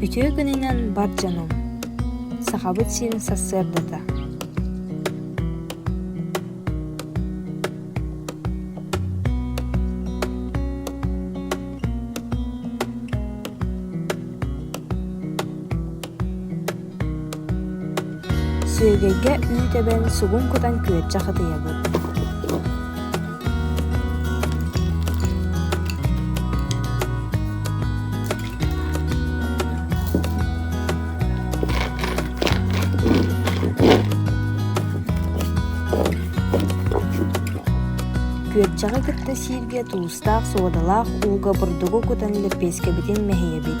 Үтүө күнүнэн бар дьонум! Сахабыт сирин сарсыардата Сүөгэйгэ үүт эбэн сугун кутан күөрчэх ытыйабыт Күөрчэҕи кытта сииргэ туустаах суодалаах ууга бурдугу кутан лэппиэскэбитин мэһийэбит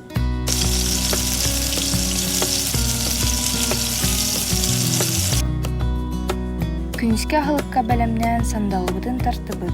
Күнүскү аһылыкка бэлэмнээн сандалыбытын тартыбыт.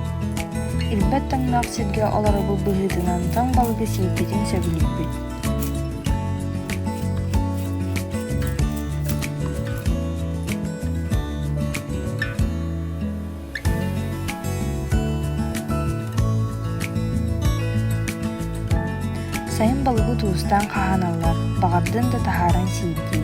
Ирбэт тоҥноох сиргэ олоробут быһыытынан тоҥ балыгы сиэппитин сөбүлүүбүт Сайын балыгы туустаан хаһаналлар, баҕардын да таһааран сиэтии.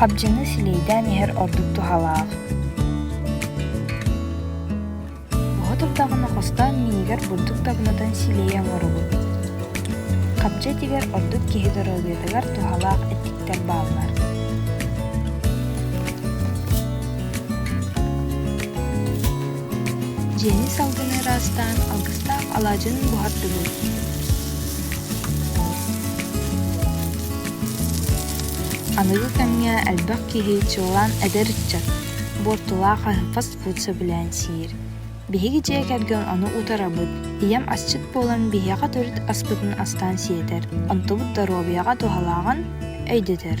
Хабдьыны силиэйдээн иһэр ордук туһалаах. Оҕо турдаҕына хостоон миигэр бурдук дабынатын силиэйэ оҥоробут. Хабдьа тигэр ордук киһи доруобуйатыгар туһалаах эттиктэр бааллар. дьиэни салгыны ыраастаан алгыстаах алаадьын буһардыбыт аныгы кэмҥэ элбэх киһи чыллаан эдэр ыччат буортулаах фаст-фуд сөбүлээн сиир биһиги дьиэ кэргэн ону утарабыт ийэм асчыт буолан биһиэхэ төрүт аспытын астаан сиэтэр онтубут доруобуйаҕа туһалааҕын өйдөтөр